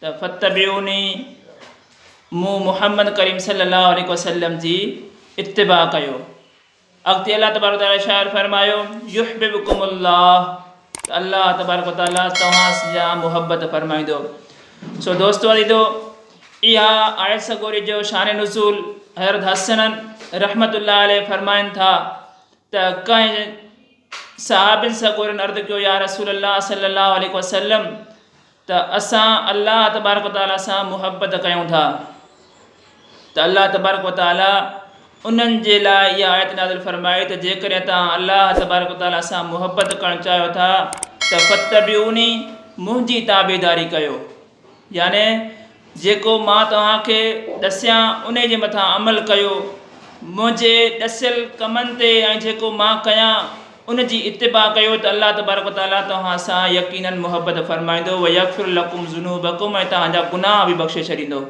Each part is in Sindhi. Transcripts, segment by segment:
ته فاتبعوني، مون محمد ڪريم صلي الله عليه وسلم جي اتباع ڪيو. اڳتي الله تبارڪ وتعالي ارشاد فرمايو، يحببڪم الله ته الله تبارڪ وتعالي توهان سان محبت فرمائيندو. سو دوستو عزيزو اها آيت سڳوري جو شان نزول حضرت حسن رحمت الله عليه فرمائن ٿا ته ڪنهن صحابين سڳورن عرض ڪيو يا رسول الله صلي الله عليه وسلم ته اسان الله تبارڪ و تعاليٰ سان محبت ڪيون ٿا ته الله تبارڪ و تعاليٰ انهن جي لاء اها آيت نازل فرمائي ته جيڪڏهن توهان الله تبارڪ و تعاليٰ سان محبت ڪرڻ چاهيو ٿا ته فاتبعوني منهنجي تابعداري ڪيو يعني جيڪو مان توهان کي ڏسيان انهي جي مٿان عمل ڪيو، منهنجي ڏسيل ڪمن تي ۽ جيڪو مان ڪيان ان جي اتباع ڪيو ته الله تبارڪ و تعالي توهان سان يقينن محبت فرمائيندو ويغفر لڪم ذنوبڪم ۽ توهان جا گناهه به بخشي ڇڏيندو.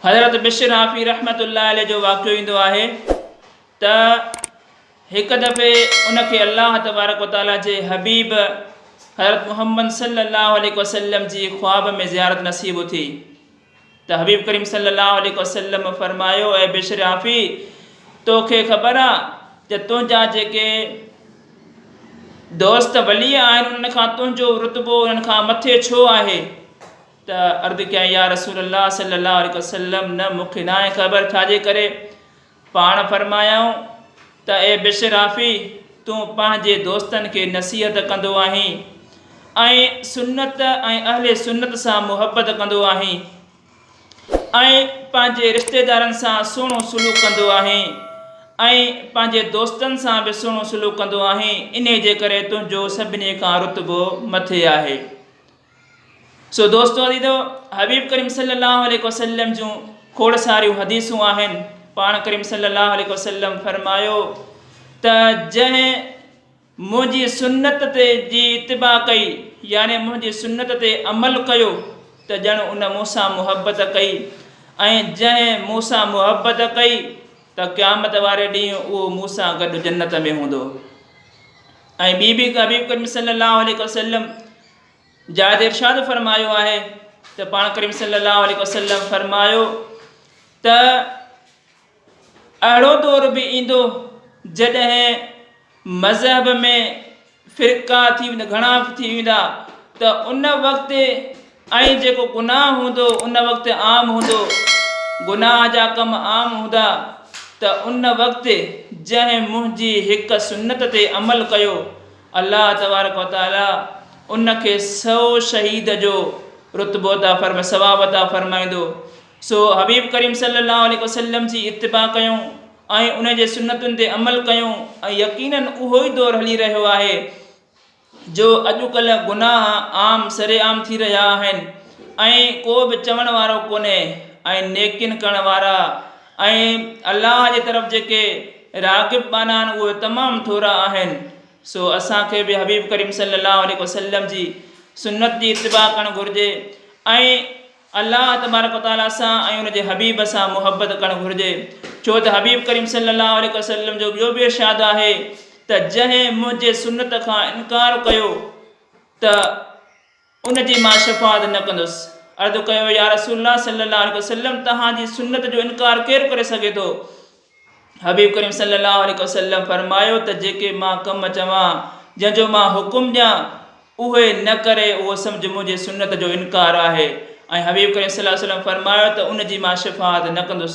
حضرت بشر حافي رحمة الله عليه جو واقعو ايندو آهي ته. هڪ دفعي ان کي الله تبارڪ و تعاليٰ جي حبيب حضرت محمد صلّي اللّٰه عليه وسلّم جي خواب ۾ زيارت نصيب ٿي ته حبيب ڪريم صلّي اللّٰه عليه وسلّم فرمايو اي بشر عافي تو کي خبر آ ته تنهنجا جيڪي دوست ولي آهن انهن کان تنهنجو رتبو انهن کان مٿي ڇو آهي ته عرض ڪيائين يا رسول الله صلّي اللّٰه عليه وسلّم نه مون کي ناهي خبر ڇا جي ڪري پاڻ فرمايائون ته اي بشرافي! تون پنهنجي دوستن کي نصيحت ڪندو آهين ۽ سنت ۽ اهل سنت سان محبت ڪندو آهين ۽ پنهنجي رشتيدارن سان سهڻو سلوڪ ڪندو آهين ۽ پنهنجي دوستن سان به سهڻو سلوڪ ڪندو آهين انهي جي ڪري تنهنجو سڀني کان رتبو مٿي آهي سو دوستو عزيزو حبيب ڪريم صلي الله عليه وسلم جون کوڙ ساريون حديثون آهن پاڻ ڪريم صلي الله عليه وسلم فرمايو ته جنهن منهنجي سنت تي جي اتباع ڪئي يعني منهنجي سنت تي عمل ڪيو ته ڄڻ ان مون سان محبت ڪئي ۽ جنهن مون سان محبت ڪئي ته قيامت واري ڏينهن اهو مون سان گڏ جنت ۾ هوندو ۽ ٻي بي حبيب ڪريم صلي الله عليه وسلم جاء تي ارشاد فرمايو آهي ته پاڻ ڪريم صلي الله عليه وسلم فرمايو ته اهڙو دور به ايندو جڏهن مذهب ۾ فرقا ٿي ويندا گهڻا ٿي ويندا ته ان وقت ۽ جيڪو گناهه هوندو ان وقت عام هوندو گناهه جا ڪم عام هوندا ته ان وقت جنهن منهنجي هڪ سنت تي عمل ڪيو الله تبارڪ و تعالي ان کي سئو شهيد جو رتبو عطا فرمائي ثواب عطا فرمائيندو سو حبيب ڪريم صلي الله عليه وسلم جي اتباع ڪيون ۽ ان جي سنتن تي عمل ڪيون ۽ يقينن اهو ئي دور هلي رهيو آهي جو اڄڪلهه گناهه عام سرعام ٿي رهيا آهن ۽ ڪو به چوڻ وارو ڪونهي ۽ نيڪين ڪرڻ وارا ۽ الله جي طرف جيڪي راغب ٻانها آهن اهي تمام ٿورا آهن، سو اسان کي به حبيب ڪريم صلي الله عليه وسلم جي سنت جي اتباع ڪرڻ گهرجي ۽ الله تبارڪ و تعالي سان ۽ ان جي حبيب سان محبت ڪرڻ گهرجي ڇو ته حبيب ڪريم صلي الله عليه وسلم جو ٻيو به ارشاد آهي ته جنهن منهنجي سنت کان انڪار ڪيو ته ان جي مان شفاعت نه ڪندس. عرض ڪيو، يا رسول الله صلي الله عليه وسلم توهان جي سنت جو انڪار ڪير ڪري سگهي ٿو؟ حبيب ڪريم صلي الله عليه وسلم فرمايو ته جيڪي مان ڪم چوان، جنهن جو مان حڪم ڏيان، اهي نه ڪري اهو سمجهه منهنجي سنت جو انڪار آهي ۽ حبيب ڪريم صلي الله عليه وسلم فرمايو ته ان جي مان شفاعت نه ڪندس.